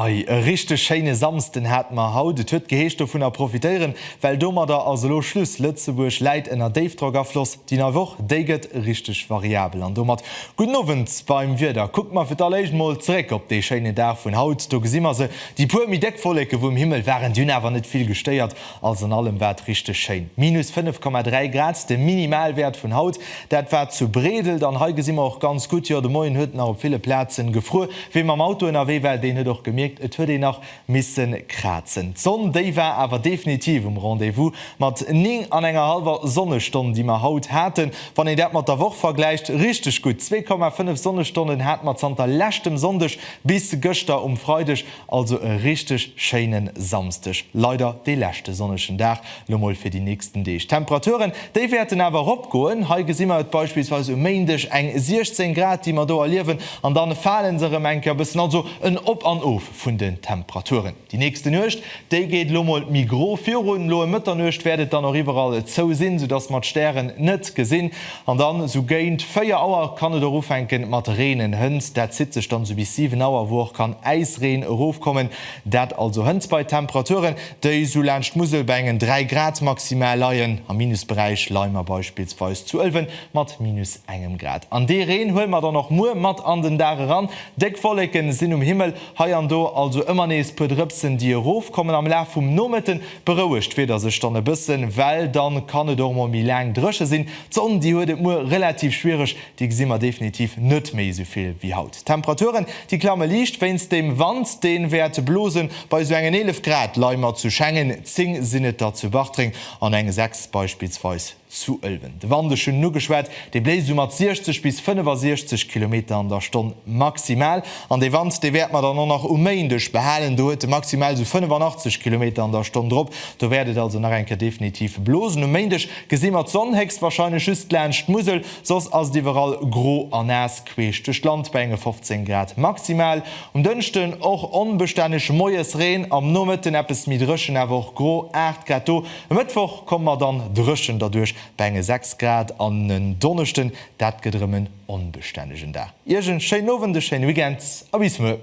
Ei e richteg schéine Samsden hate mer haut. Et huet geheescht dovunner profitéieren, well domadder ass elo Schluss. Lëtzebuerg läit ënner Déifdrockafloss. Déi nei Woch, déi gëtt richteg variabel an domat gudden Owend beim Wieder. Kucke mer fir d'alléischt mol zeréck op dee schéine Dag vun haut. Do gesi mer se Déi puer méi déck Wolleke vu um Himmel waren dunn awer net vill gestéiert. Alles an allem war et richteg schéin. Minus 5,3 Grad, de Minimalwäert vun haut. Dat war zu Bredelt an hei gesi mer och ganz gutt, jo de Moien huet et nach op ville Plazen gefruer. Wee mam Auto ënnerwee war, deen huet och gemierkt, et huet een nach missen krazen. D'Sonn, déi war awer definitiv um Rendez-vous mat 9 an enger hallwer Sonnestonn, déi mer haut haten. Wann een dat mat der Woch vergläicht, richteg gutt. 2,5 Sonnestonnen hat mer zanter leschtem Sonndeg. Bis gëschter um Freideg also e richteg schéinen Samsdeg, leider dee leschte sonnegen Dag lo mol fir déi nächsten Deeg. D'Temperaturen, déi wäerten awer erop goen. Hei gesi mer et beispillsweis um Méindeg, eng 16 Grad déi mer do erliewen, an dann fale se erëm eng Kéier e bëssen. Also en Op an Of vun den Temperaturen. Déi nächste Nuecht, déi geet elo mol méi gro virun. Elo ëm Mëtternuecht wäert et dann och iwwerall zou sinn, soudass mer d'Stären net gesinn. An dann esou géint 4 Auer kann et och ufänken mat reenen. Hënt, dat zitt sech dann esou bis 7 Auer, wou och kann Äisreen erofkommen. Dat also hënt bei Temperaturen, déi esou laanscht d'Musel bei engen 3 Grad maximal leien. Am Minusberäich leie mer beispillsweis zu Ëlwen mat minus engem Grad. An dee Reen huele mer dann och muer mat an den Dag eran. Déck Wolleken sinn um Himmel. Hei an do also ëmmer nees puer Drëpsen déi erof kommen am Laf vum Nomëtten. Berouegt d'Wieder sech dann e bëssen, well dann kann et och mol méi laang drëche sinn. D'Sonn déi huet et muer relativ schwiereg, déi gesi mer definitiv net méi esou vill wéi haut. D'Temperaturen déi klamme liicht wéinst dem Wand deen wäert blosen. Bei esou engen 11 Grad leie mer zu Schengen, 10 sinn et der zu Bartreng an eng 6 beispillsweis Zu Ëlwen, de Wand, ech hunn en ugeschwat, dee bléist esou mat 60 bis 65 Kilometer an der Stonn maximal. An dee Wand, dee wäert mer dann och nach um Méindeg behalen. Do huet e maximal esou 85 Kilometer an der Stonn drop. Do wäert et also nach eng Kéier definitiv blosen. Um Méindeg gesi mer d'Sonn, héchstwahrscheinlech just laanscht d'Musel, soss ass et iwwerall gro a naass queesch duerch d'Land bei enge 15 Grad maximal. Um Dënschden och onbestänneg, moies Reen, am Nomëtten eppes méi dréchen, awer och gro, 8 Grad. Do E Mëttwoch komme mer dann dréchen derduerch bei enge 6 Grad an en Donneschden, dat gëtt erëm en onbestännegen Dag. Iech en schéinen Owend, e schéine Weekend a bis muer!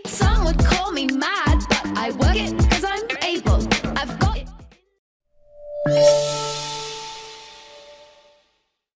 Some would call me mad, but I work it cause I'm able, I've got it in me.